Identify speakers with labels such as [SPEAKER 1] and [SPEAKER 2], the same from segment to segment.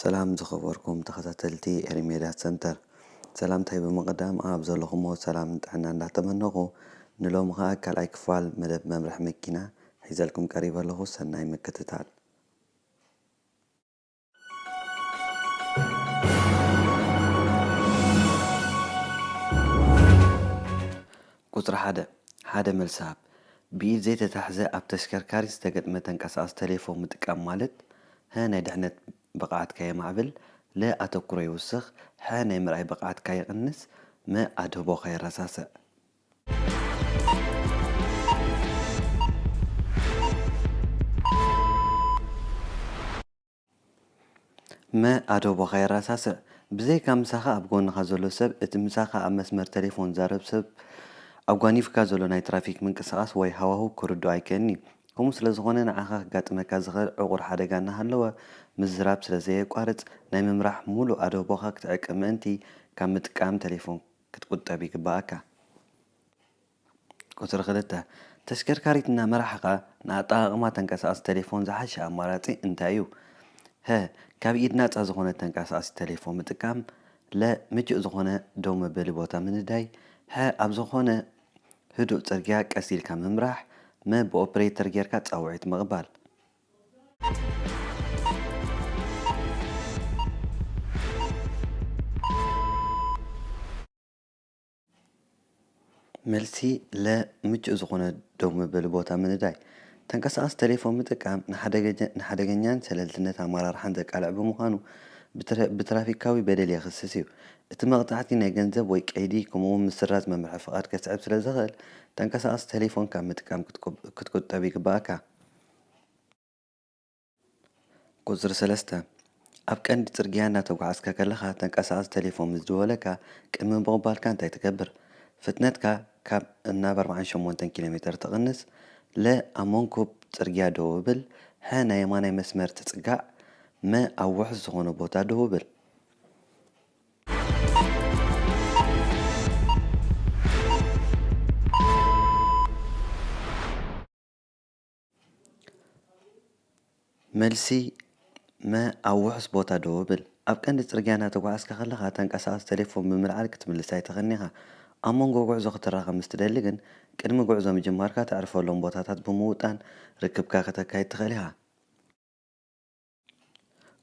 [SPEAKER 1] ሰላም ዝኸበርኩም ተኸታተልቲ ኤሪ ሜድያ ሰንተር ሰላምታይ ብምቕዳም ኣብ ዘለኹሞ ሰላም ጥዕና እንዳተመነኹ ንሎሚ ኸኣ ካልኣይ ክፋል መደብ መምርሒ መኪና ሒዘልኩም ቀሪበ ኣለኹ ሰናይ ምክትታል ቁጽሪ ሓደ፣ ሓደ መልሲ ሃብ። ብኢድ ዘይተታሕዘ ኣብ ተሽከርካሪት ዝተገጥመ ተንቀሳቓሲ ተሌፎን ምጥቃም ማለት፣ ሀ ናይ ድሕነት ብቕዓትካ የማዕብል፣ ለ ኣተኩሮ ይውስኽ፣ ሐ ናይ ምርኣይ ብቕዓትካ ይቕንስ፣ መ ኣድህቦኻ የረሳስዕ። መ ኣደቦኻ የራሳስዕ ብዘይካ ምሳኻ ኣብ ጎንኻ ዘሎ ሰብ እቲ ምሳኻ ኣብ መስመር ተሌፎን ዝዛረብ ሰብ ኣጓኒፍካ ዘሎ ናይ ትራፊክ ምንቅስቓስ ወይ ሃዋህው ክርድኦ ኣይክእልን እዩ። ከምኡ ስለ ዝኾነ ንዓኻ ከጋጥመካ ዝኽእል ዕቑር ሓደጋ እናሃለወ ምዝራብ ስለ ዘየቋርጽ ናይ ምምራሕ ምሉእ ኣደቦኻ ክትዕቅብ ምእንቲ ካብ ምጥቃም ተሌፎን ክትቁጠብ ይግበኣካ። ቁጽሪ ክልተ፣ ተሽከርካሪት እናመራሕኻ ንኣጠቓቕማ ተንቀሳቓሲ ተሌፎን ዝሓሸ ኣማራጺ እንታይ እዩ? ሀ፣ ካብ ኢድ ናጻ ዝኾነት ተንቀሳቓሲት ተሌፎን ምጥቃም። ለ፣ ምቹእ ዝኾነ ደው መበሊ ቦታ ምንዳይ። ሐ፣ ኣብ ዝኾነ ህዱእ ጽርግያ ቀስ ኢልካ ምምራሕ። መ፣ ብኦፕሬተር ጌርካ ጻውዒት ምቕባል። መልሲ ለ ምቹእ ዝኾነ ደው መበሊ ቦታ ምንዳይ። ተንቀሳቓሲ ተሌፎን ምጥቃም ንሓደገኛን ሸለልትነት ኣመራርሓን ዘቃልዕ ብምዃኑ ብትራፊካዊ በደል የኽስስ እዩ። እቲ መቕጻዕቲ ናይ ገንዘብ ወይ ቀይዲ ከምኡ'ውን ምስራዝ መምርሒ ፍቓድ ከስዕብ ስለዝኽእል ተንቀሳቓሲ ተሌፎን ካብ ምጥቃም ክትቁጠብ ይግበኣካ። ቁጽሪ ሰለስተ፣ ኣብ ቀንዲ ጽርግያ እናተጓዕዝካ ከለኻ ተንቀሳቓሲ ተሌፎን ምስ ደወለካ ቅድሚ ምቕባልካ እንታይ ትገብር? ፍጥነትካ ካብ ናብ ኣርብዓን ሸሞንተን ኪሎ ሜተር ትቕንስ፣ ለ ኣብ መንኩብ ጽርግያ ደው ብል፣ ሐ ናይ የማናይ መስመር ትጽጋዕ፣ መ ኣብ ውሑስ ዝኾነ ቦታ ደው ብል። መልሲ፣ መ፣ ኣብ ውሑስ ቦታ ደው እብል። ኣብ ቀንዲ ጽርግያ እናተጓዓዝካ ከለኻ፣ ተንቀሳቓሲ ተሌፎን ብምልዓል ክትምልስ ኣይትኽእልን ኢኻ። ኣብ መንጎ ጕዕዞ ክትራኸብ ምስ ትደሊ ግን፣ ቅድሚ ጕዕዞ ምጅማርካ ተዕርፈሎም ቦታታት ብምውጣን ርክብካ ከተካይድ ትኽእል ኢኻ።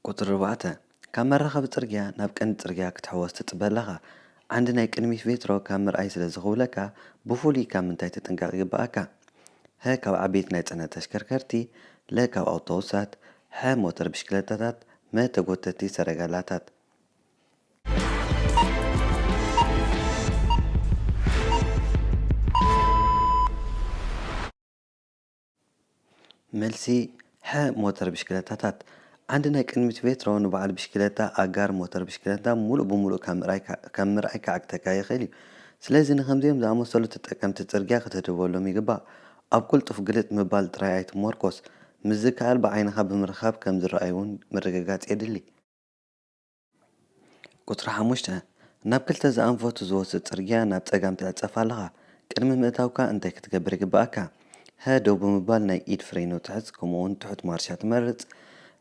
[SPEAKER 1] ቁጽሪ ኣርባዕተ፣ ካብ መራኸቢ ጽርግያ ናብ ቀንዲ ጽርግያ ክትሕወስ ትጽበ ኣለኻ። ዓንዲ ናይ ቅድሚት ቬትሮ ካብ ምርኣይ ስለ ዝኽውለካ፣ ብፍሉይ ካብ ምንታይ ትጥንቀቕ ይግበኣካ? ሀ ካብ ዓበይቲ ናይ ጽዕነት ተሽከርከርቲ፣ ለ ካብ ኣውቶቡሳት፣ ሐ ሞተር ብሽክለታታት፣ መ ተጎተቲ ሰረገላታት። መልሲ፣ ሐ ሞተር ብሽክለታታት። ዓንዲ ናይ ቅድሚት ቬትሮ ንበዓል ብሽክለታ ኣጋር ሞተር ብሽክለታ ሙሉእ ብሙሉእ ካብ ምርኣይ ክዓግተካ ይኽእል እዩ። ስለዚ ንኸምዚኦም ዝኣመሰሉ ተጠቀምቲ ፅርግያ ክትህድበሎም ይግባእ። ኣብ ቅልጡፍ ግልጥ ምባል ጥራይ ኣይትሞርኮስ፣ ምስ ዝከኣል ብዓይንኻ ብምርኻብ ከም ዝረኣዩ እውን ምርግጋፅ የድሊ። ቍጽሪ ሓሙሽተ፣ ናብ ክልተ ዝኣንፈቱ ዝወስድ ጽርግያ ናብ ጸጋም ትዕጸፍ ኣለኻ። ቅድሚ ምእታውካ እንታይ ክትገብር ይግብኣካ? ሀ ደው ብምባል ናይ ኢድ ፍሬኖ ትሕዝ ከምኡውን ትሑት ማርሻ ትመርጽ።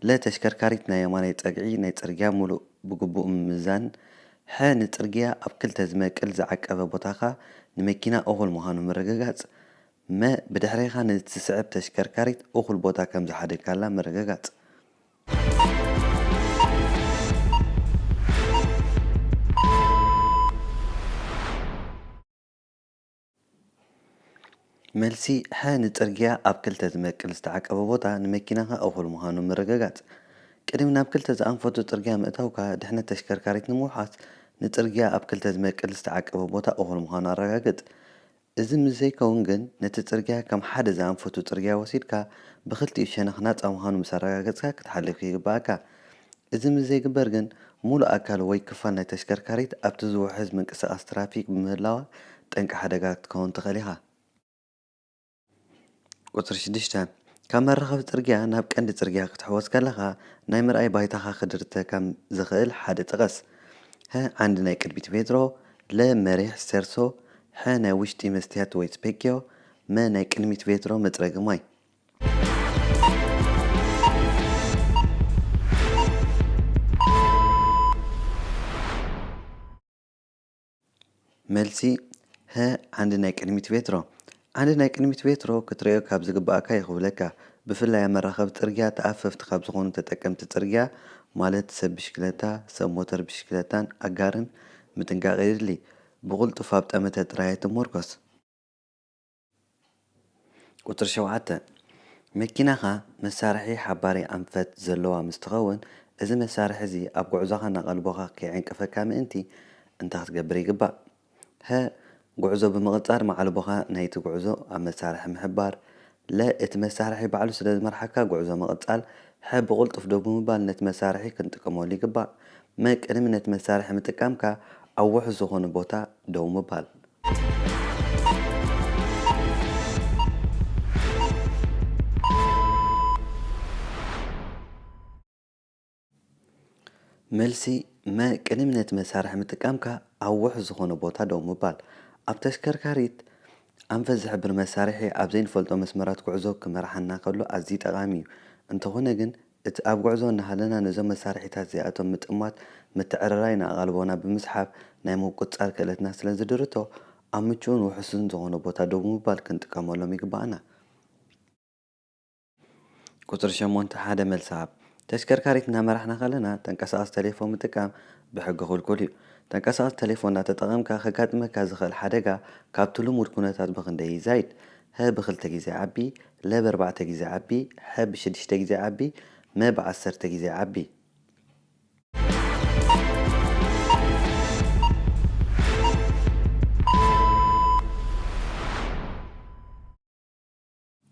[SPEAKER 1] ለ ተሽከርካሪት ናይ የማናይ ጸግዒ ናይ ጽርግያ ምሉእ ብግቡእ ምምዛን። ሐ ንጽርግያ ኣብ ክልተ ዝመቅል ዝዓቀበ ቦታኻ ንመኪና እኹል ምዃኑ ምርግጋጽ። መ ብድሕሬኻ ንእትስዕብ ተሽከርካሪት እኹል ቦታ ከም ዝሓደግካላ ምርግጋጽ። መልሲ፣ ሐ ንጽርግያ ኣብ ክልተ ዝመቅል ዝተዓቀበ ቦታ ንመኪናኻ እኹል ምዃኑ ምርግጋጽ። ቅድሚ ናብ ክልተ ዝኣንፈቱ ጽርግያ ምእታውካ፣ ድሕነት ተሽከርካሪት ንምውሓስ ንጽርግያ ኣብ ክልተ ዝመቅል ዝተዓቀበ ቦታ እኹል ምዃኑ ኣረጋግጽ። እዚ ምስ ዘይከውን ግን ነቲ ጽርግያ ከም ሓደ ዝኣንፈቱ ጽርግያ ወሲድካ ብኽልቲኡ ሸነኽ ናጻ ምዃኑ ምስ ኣረጋገጽካ ክትሓልፍ ይግበኣካ። እዚ ምስ ዘይግበር ግን ምሉእ ኣካል ወይ ክፋል ናይ ተሽከርካሪት ኣብቲ ዝውሕዝ ምንቅስቓስ ትራፊክ ብምህላዋ ጠንቂ ሓደጋ ክትከውን ትኽእል ኢኻ። ቁጽሪ ሽዱሽተ፣ ካብ መራኸቢ ጽርግያ ናብ ቀንዲ ጽርግያ ክትሕወስ ከለኻ ናይ ምርኣይ ባይታኻ ክድርተካ ዘኽእል ሓደ ጥቐስ። ሀ ዓንዲ ናይ ቅድሚት ቬትሮ፣ ለ መሪሕ ስቴርሶ፣ ሐ ናይ ውሽጢ መስትያት ወይ ስፔኪዮ፣ መ ናይ ቅድሚት ቬትሮ መጽረጊ ማይ። መልሲ፣ ሀ ዓንዲ ናይ ቅድሚት ቬትሮ። ዓንዲ ናይ ቅድሚት ቬትሮ ክትርእዮ ካብ ዝግበኣካ ይኽብለካ። ብፍላይ ኣብ መራኸቢ ጽርግያ ተኣፈፍቲ ካብ ዝኾኑ ተጠቀምቲ ጽርግያ ማለት ሰብ ብሽክለታ፣ ሰብ ሞተር ብሽክለታን ኣጋርን ምጥንቃቕ የድሊ። ብቕልጡፍ ኣብ ጠመተ ጥራይ ኣይትሞርኮስ። ቁጽሪ ሸውዓተ፣ መኪናኻ መሳርሒ ሓባሪ ኣንፈት ዘለዋ ምስ ትኸውን፣ እዚ መሳርሒ እዚ ኣብ ጉዕዞኻ ናቐልቦኻ ከይዕንቅፈካ ምእንቲ እንታይ ክትገብር ይግባእ? ሀ። ጉዕዞ ብምቕጻር ማዕልቦኻ ናይቲ ጉዕዞ ኣብ መሳርሒ ምሕባር። ለ። እቲ መሳርሒ ባዕሉ ስለ ዝመርሓካ ጉዕዞ ምቕጻል። ሐ። ብቕልጡፍ ደው ብምባል ነቲ መሳርሒ ክንጥቀመሉ ይግባእ። መ። ቅድሚ ነቲ መሳርሒ ምጥቃምካ ኣብ ውሑስ ዝኾነ ቦታ ደው ምባል። መልሲ፣ መ፣ ቅድሚ ነቲ መሳርሒ ምጥቃምካ ኣብ ውሑስ ዝኾነ ቦታ ደው ምባል። ኣብ ተሽከርካሪት ኣንፈት ዝሕብር መሳርሒ ኣብ ዘይንፈልጦ መስመራት ጉዕዞ ክመርሓና ከሎ ኣዝዩ ጠቓሚ እዩ። እንተኾነ ግን እቲ ኣብ ጉዕዞ እናሃለና ነዞም መሳርሒታት እዚኣቶም ምጥማት፣ ምትዕርራይ ንኣቓልቦና ብምስሓብ ናይ ምቁጽጻር ክእለትና ስለ ዝድርቶ፣ ኣብ ምቹእን ውሑስን ዝኾነ ቦታ ደው ብምባል ክንጥቀመሎም ይግበኣና። ቁጽሪ ሸሞንተ፣ ሓደ መልሲ ሃብ። ተሽከርካሪት እናመራሕና ከለና ተንቀሳቓሲ ተሌፎን ምጥቃም ብሕጊ ክልኩል እዩ። ተንቀሳቓሲ ተሌፎን እናተጠቐምካ ከጋጥመካ ዝኽእል ሓደጋ ካብቲ ልሙድ ኩነታት ብኽንደይ ይዛይድ? ሀ ብክልተ ግዜ ይዓቢ፣ ለ ብኣርባዕተ ግዜ ዓቢ፣ ሐ ብሽድሽተ ግዜ ዓቢ፣ መ ብዓሰርተ ግዜ ዓቢ።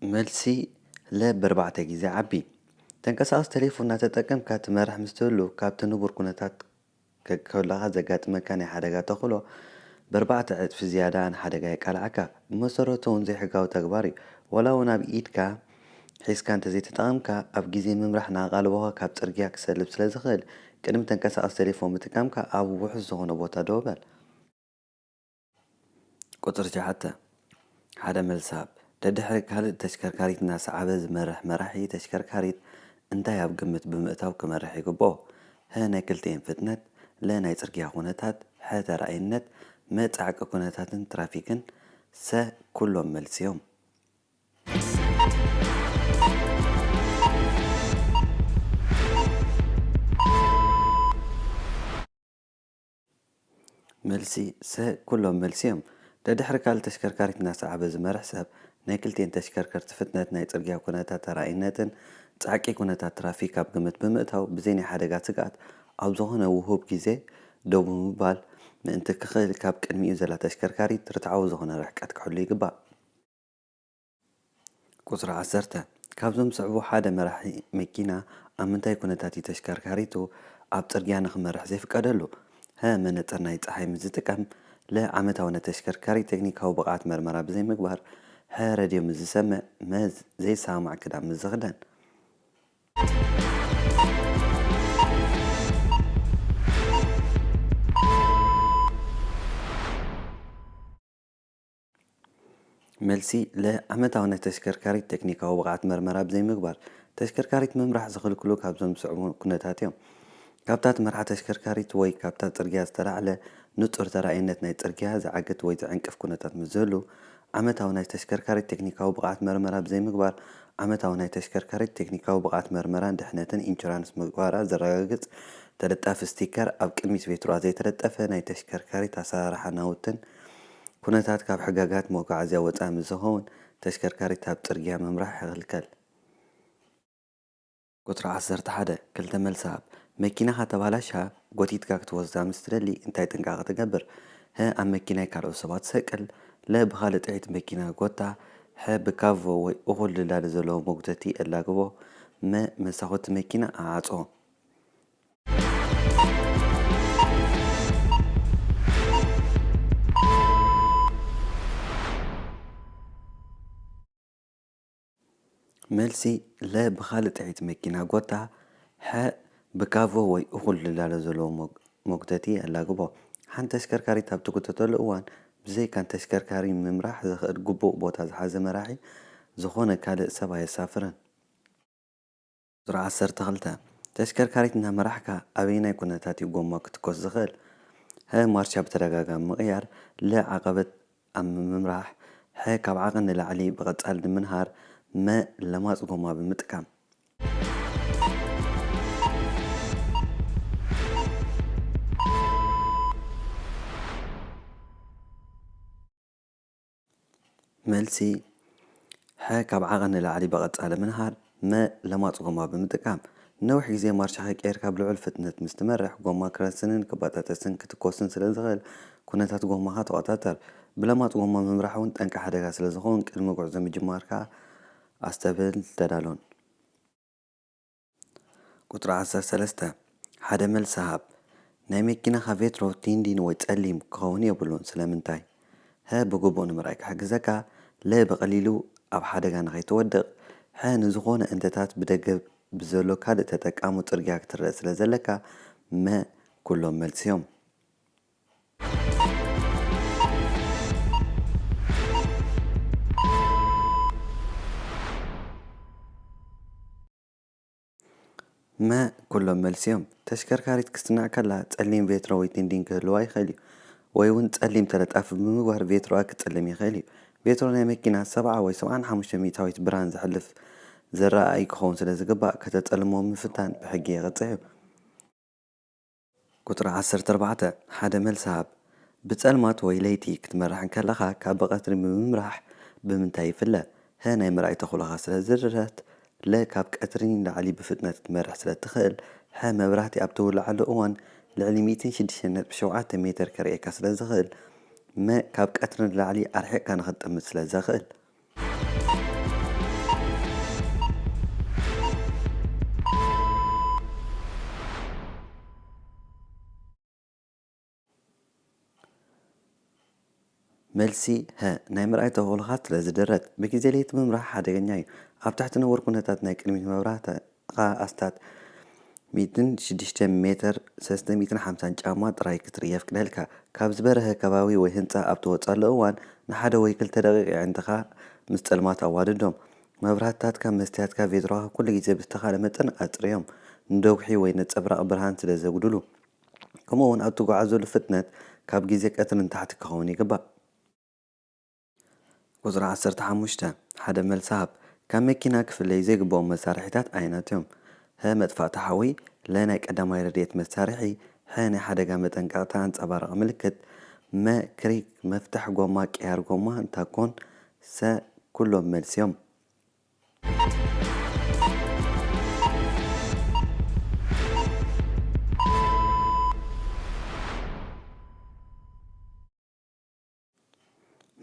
[SPEAKER 1] መልሲ፣ ለ ብኣርባዕተ ግዜ ዓቢ። ተንቀሳቓሲ ተሌፎን እናተጠቀምካ ትመርሕ ምስ ትህሉ ካብቲ ንቡር ኩነታት ከለኻ ዘጋጥመካ ናይ ሓደጋ ተኽእሎ በርባዕተ ዕጽፊ ዝያዳ ንሓደጋ የቃልዓካ። ብመሰረቱ እውን ዘይሕጋዊ ተግባር እዩ። ዋላ እውን ኣብ ኢድካ ሒዝካ እንተዘይተጠቐምካ፣ ኣብ ግዜ ምምራሕ ንኣቓልቦኻ ካብ ጽርግያ ክሰልብ ስለ ዝኽእል፣ ቅድሚ ተንቀሳቓሲ ተሌፎን ምጥቃምካ ኣብ ውሑስ ዝኾነ ቦታ ደው በል። ቁጽሪ ሸውዓተ፣ ሓደ መልስሃብ ደድሕሪ ካልእ ተሽከርካሪት እናሰዓበ ዝመርሕ መራሒ ተሽከርካሪት እንታይ ኣብ ግምት ብምእታው ክመርሕ ይግብኦ? ሀ ናይ ክልቲኤን ፍጥነት፣ ለ ናይ ጽርግያ ኩነታት፣ ሐ ተራኣይነት፣ መ ጻዕቂ ኩነታትን ትራፊክን፣ ሰ ኩሎም መልሲዮም። መልሲ፣ ሰ ኩሎም መልሲ እዮም። ደድሕሪ ካልእ ተሽከርካሪት እናሰዓበ ዝመርሕ ሰብ፣ ናይ ክልቲኤን ተሽከርከርቲ ፍጥነት፣ ናይ ጽርግያ ኩነታት ተራእይነትን ጻዕቂ ኩነታት ትራፊክ ኣብ ግምት ብምእታው ብዘይ ናይ ሓደጋ ስግኣት ኣብ ዝኾነ ውሁብ ግዜ ደው ብምባል ምእንቲ ክኽእል ካብ ቅድሚኡ ዘላ ተሽከርካሪት ርትዓዊ ዝኾነ ርሕቀት ክሕሉ ይግባእ። ቁጽሪ ዓሰርተ፣ ካብዞም ዝስዕቡ ሓደ መራሒ መኪና ኣብ ምንታይ ኩነታት እዩ ተሽከርካሪቱ ኣብ ጽርግያ ንኽመርሕ ዘይፍቀደሉ? ሀ መነጽር ናይ ጸሓይ ምስ ዝጥቀም፣ ለ ዓመታዊ ናይ ተሽከርካሪ ቴክኒካዊ ብቕዓት መርመራ ብዘይምግባር፣ ሐ ረድዮ ምስ ዝሰምዕ፣ መ ዘይሰማማዕ ክዳን ምስ ዝኽደን። መልሲ፣ ለ፣ ዓመታዊ ናይ ተሽከርካሪት ቴክኒካዊ ብቕዓት መርመራ ብዘይምግባር ተሽከርካሪት ምምራሕ ዝኽልክሉ ካብዞም ዝስዕቡ ኩነታት እዮም። ካብታ ትመርሓ ተሽከርካሪት ወይ ካብታ ጽርግያ ዝተላዕለ ንጹር ተራኣይነት ናይ ጽርግያ ዝዓግት ወይ ዝዕንቅፍ ኩነታት ምስ ዝህሉ ዓመታዊ ናይ ተሽከርካሪት ቴክኒካዊ ብቕዓት መርመራ ብዘይምግባር ዓመታዊ ናይ ተሽከርካሪት ቴክኒካዊ ብቕዓት መርመራን ድሕነትን ኢንሹራንስ ምግባራ ዘረጋግጽ ተለጣፊ ስቲከር ኣብ ቅድሚት ቬትሩኣ ዘይተለጠፈ ናይ ተሽከርካሪት ኣሰራርሓ ናውትን ኩነታት ካብ ሕጋጋት መጉዓዝያ ወፃኢ ምስ ዝኸውን ተሽከርካሪት ኣብ ፅርግያ ምምራሕ ይኽልከል። ቁፅሪ ዓሰርተ ሓደ፣ ክልተ መልሲ ሃብ። መኪናኻ ተባላሽያ ጎቲትካ ክትወስዳ ምስ ትደሊ እንታይ ጥንቃቐ ትገብር? ሀ ኣብ መኪናይ ካልኦት ሰባት ትሰቅል። ለ ብኻልእ ጥሒት መኪና ጎታ። ሐ ብካቮ ወይ እኹል ድላድል ዘለዎ መጉተቲ ኣላግቦ። መ መሳኹቲ መኪና ኣዓፆ። መልሲ፣ ለ ብኻልእ ጥዒት መኪና ጎታ፣ ሐ ብካቮ ወይ እኹል ልላለ ዘለዎ መጉተቲ ኣላግቦ። ሓንቲ ተሽከርካሪት ኣብ ትጉተተሉ እዋን ብዘይካ ንተሽከርካሪ ምምራሕ ዘኽእል ግቡእ ቦታ ዝሓዘ መራሒ፣ ዝኾነ ካልእ ሰብ ኣየሳፍርን። ዙር ዓሰርተ ክልተ፣ ተሽከርካሪት እናመራሕካ ኣበየናይ ኩነታት እዩ ጎማ ክትኮስ ዝኽእል? ሀ ማርሻ ብተደጋጋሚ ምቕያር ለ ዓቐበት ኣብ ምምራሕ ሐ ካብ ዓቐን ንላዕሊ ብቐጻሊ ንምንሃር መ ለማጽ ጎማ ብምጥቃም። መልሲ፣ ሐ ካብ ዓቐን ንላዕሊ ብቐጻሊ ምንሃር፣ መ ለማጽ ጎማ ብምጥቃም፣ ንነዊሕ ግዜ ማርሽ ከይቀየርካ ብልዑል ፍጥነት ምስ ትመርሕ፣ ጎማ ክረስንን ክበጣጠስን ክትኰስን ስለ ዝኽእል፣ ኵነታት ጎማኻ ተቖጻጸር። ብለማጽ ጎማ ምምራሕ እውን ጠንቂ ሓደጋ ስለ ዝኸውን፣ ቅድሚ ጕዕዞ ምጅማርካ ኣስተብህልን ተዳሎን። ቁጽሪ ዓሰርተ ሰለስተ፣ ሓደ መልሲ ሃብ። ናይ መኪናኻ ቬትሮ ቲንዲን ወይ ጸሊም ክኸውን የብሉን። ስለምንታይ? ሀ ብግቡእ ንምርኣይ ክሕግዘካ፣ ለ ብቐሊሉ ኣብ ሓደጋ ንኸይትወድቕ፣ ሐ ንዝኾነ እንተታት ብደገ ብዘሎ ካልእ ተጠቃሙ ጽርግያ ክትረእ ስለዘለካ፣ መ ኩሎም መልሲ'ዮም። መ፣ ኩሎም መልሲ እዮም። ተሽከርካሪት ክትስናዕ ከላ ጸሊም ቬትሮ ወይ ቲንዲን ክህልዋ ይኽእል እዩ። ወይ እውን ጸሊም ተለጣፊ ብምግባር ቬትሮኣ ክጸልም ይኽእል እዩ። ቬትሮ ናይ መኪና ሰብዓ ወይ ሰብዓን ሓሙሽተ ሚእታዊት ብርሃን ዘሕልፍ ዝረኣይ ክኸውን ስለዝግባእ ከተጸልምዎ ምፍታን ብሕጊ የቕጽዕ እዩ። ቁጽሪ ዓሰርተ ኣርባዕተ፣ ሓደ መልሲ ሃብ። ብጸልማት ወይ ለይቲ ክትመርሕ እንከለኻ ካብ ብቐትሪ ብምምራሕ ብምንታይ ይፍለ? ሀ ናይ ምርኣይ ተኽእሎኻ ስለ ዝርረት፣ ለ ካብ ቀትሪ ንላዕሊ ብፍጥነት ክትመርሕ ስለ እትኽእል፣ ሐ መብራህቲ ኣብ እተውልዓሉ እዋን ልዕሊ ሚእትን ሽዱሽተን ነጥቢ ሸውዓተ ሜተር ከርእየካ ስለ ዝኽእል፣ መ ካብ ቀትሪ ንላዕሊ ኣርሒቕካ ንኽትጥምት ስለ ዘኽእል። መልሲ፣ ሀ። ናይ ምርኣይ ተኽእሎኻ ስለዝድረት። ብግዜ ለይቲ ምብራህ ሓደገኛ እዩ። ኣብ ትሕቲ ንቡር ኩነታት ናይ ቅድሚት ምብራህ ኸኣ ኣስታት ሚእትን ሽዱሽተን ሜተር፣ ሰለስተ ሚእትን ሓምሳን፣ ጫማ ጥራይ ክትርኢ የፍቅደልካ። ካብ ዝበረሀ ከባቢ ወይ ህንጻ ኣብ ትወጸሉ እዋን፣ ንሓደ ወይ ክልተ ደቒቕ የዒንትኻ ምስ ጸልማት ኣዋድዶም። መብራህትታትካን መስትያትካ ቬትሮኻ ኩሉ ግዜ ብዝተኻእለ መጠን ኣጽርዮም፣ ንደጉሒ ወይ ነጸብራቕ ብርሃን ስለ ዘጉድሉ። ከምኡ'ውን ኣብ ትጓዓዘሉ ፍጥነት ካብ ግዜ ቀትሪ ንታሕቲ ክኸውን ይግባእ። ቁጽሪ ዓሰርተ ሓሙሽተ፣ ሓደ መልሲ ሃብ። ካብ መኪና ክፍለዩ ዘይግብኦም መሳርሒታት ኣየኖት እዮም? ሀ መጥፋእቲ ሓዊ፣ ለ ናይ ቀዳማይ ረድኤት መሳርሒ፣ ሐ ናይ ሓደጋ መጠንቀቕታ ኣንጸባራቒ ምልክት፣ መ ክሪክ፣ መፍትሕ ጎማ፣ ቅያር ጎማ፣ ታኮን፣ ሰ ኩሎም መልሲ እዮም።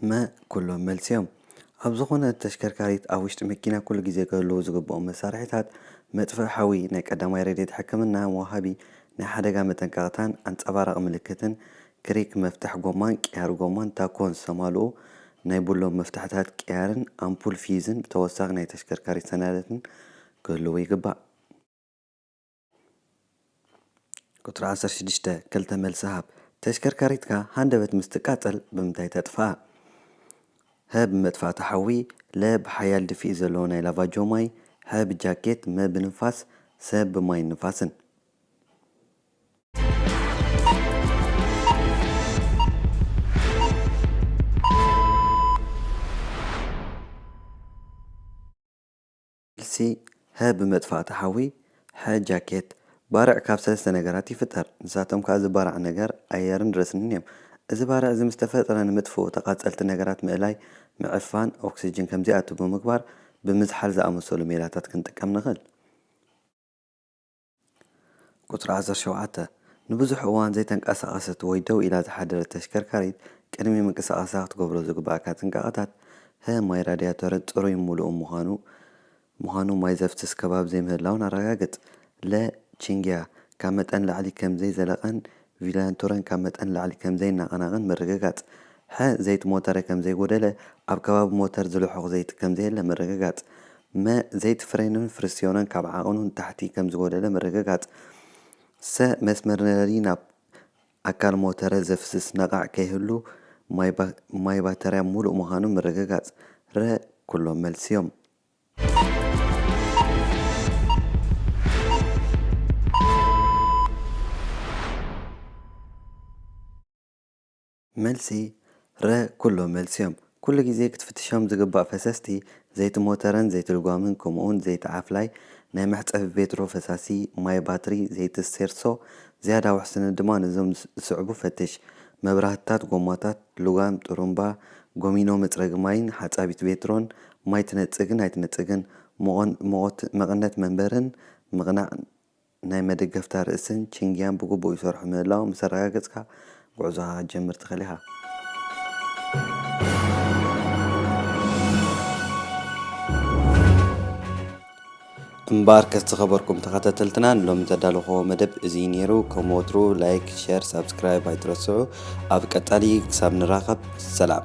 [SPEAKER 1] መ፣ ኩሎም መልሲ'ዮም። ኣብ ዝኾነት ተሽከርካሪት ኣብ ውሽጢ መኪና ኩሉ ግዜ ክህልዉ ዝግብኦም መሳርሒታት፣ መጥፍኢ ሓዊ፣ ናይ ቀዳማይ ረድኤት ሕክምና፣ መውሃቢ ናይ ሓደጋ መጠንቀቕታን ኣንጸባራቒ ምልክትን፣ ክሪክ መፍትሕ ጎማን ቅያር ጎማን ታኮን ዝተማልኡ ናይ ቡሎም መፍትሕታት ቅያርን ኣምፑል ፍዩዝን ብተወሳኺ ናይ ተሽከርካሪት ሰነዳትን ክህልዉ ይግባእ። ቁጽሪ ዓሰርተ ሽዱሽተ፣ ክልተ መልሲ ሃብ። ተሽከርካሪትካ ሃንደበት ምስ ትቃጸል ብምንታይ ተጥፍኣ? ሀ ብመጥፋእቲ ሓዊ፣ ለ ብሓያል ድፍኢት ዘለዎ ናይ ላቫጆ ማይ፣ ሐ ብጃኬት፣ መ ብንፋስ፣ ሰ ብማይን ንፋስን። መልሲ፣ ሀ ብመጥፋእቲ ሓዊ፣ ሐ ጃኬት። ባርዕ ካብ ሰለስተ ነገራት ይፍጠር። ንሳቶም ከኣ እዚ ባራዕ ነገር፣ ኣየርን ረስኒን እዮም። እዚ ባርዕ እዚ ምስ ተፈጥረ ንምጥፍኡ ተቓጸልቲ ነገራት ምእላይ፣ ምዕፋን፣ ኦክስጅን ከም ዘይኣቱ ብምግባር ብምዝሓል ዝኣመሰሉ ሜላታት ክንጥቀም ንኽእል። ቁጽሪ ዓሰርተ ሸውዓተ፣ ንብዙሕ እዋን ዘይተንቀሳቐሰት ወይ ደው ኢላ ዝሓደረት ተሽከርካሪት ቅድሚ ምንቅስቓሳ ክትገብሮ ዝግበኣካ ጥንቃቐታት፣ ህ፣ ማይ ራድያቶርን ጽሩይን ምሉእን ምዃኑ፣ ምዃኑ ማይ ዘፍስስ ከባቢ ዘይምህላዉን ኣረጋግጽ፣ ለ፣ ቺንግያ ካብ መጠን ንላዕሊ ከም ዘይዘለቐን ቪላንቶረን ካብ መጠን ንላዕሊ ከም ዘይናቐናቐን ምርግጋጽ። ሐ። ዘይቲ ሞተረ ከም ዘይጎደለ፣ ኣብ ከባቢ ሞተር ዝልሑኽ ዘይቲ ከም ዘየለ ምርግጋጽ። መ። ዘይቲ ፍሬንን ፍሪስዮንን ካብ ዓቐኑ ንታሕቲ ከም ዝጎደለ ምርግጋጽ። ሰ። መስመር ነደዲ ናብ ኣካል ሞተረ ዘፍስስ ነቓዕ ከይህሉ ማይ ባተርያ ምሉእ ምዃኑ ምርግጋጽ። ረ። ኩሎም መልሲ'ዮም። መልሲ፣ ረ ኩሎም መልሲ እዮም። ኩሉ ግዜ ክትፍትሾም ዝግባእ ፈሰስቲ፣ ዘይቲ ሞተረን ዘይቲ ልጓምን ከምኡውን ዘይቲ ዓፍላይ፣ ናይ መሕጸቢ ቬትሮ ፈሳሲ፣ ማይ ባትሪ፣ ዘይቲ ስቴርሶ፣ ዝያዳ ውሕስነት ድማ ነዞም ዝስዕቡ ፈትሽ፣ መብራህትታት፣ ጎማታት፣ ልጓም፣ ጥሩምባ፣ ጎሚኖ መጽረጊ ማይን ሓጻቢት ቬትሮን፣ ማይ ትነጽግን ኣይትነጽግን፣ ምቖን ምቖት መቐነት መንበርን ምቕናዕ ናይ መደገፍታ ርእስን ቺንግያን ብግቡእ ይሰርሑ ምህላዎም ምስ ኣረጋገጽካ፣ ጉዕዞኻ ክትጀምር ትኽእል ኢኻ። እምበኣርከስ ዝኸበርኩም ተኸታተልትና ንሎሚ ዘዳለኹዎ መደብ እዙይ ነይሩ። ከም ወትሩ ላይክ፣ ሸር፣ ሳብስክራይብ ኣይትረስዑ። ኣብ ቀጻሊ ክሳብ ንራኸብ ሰላም።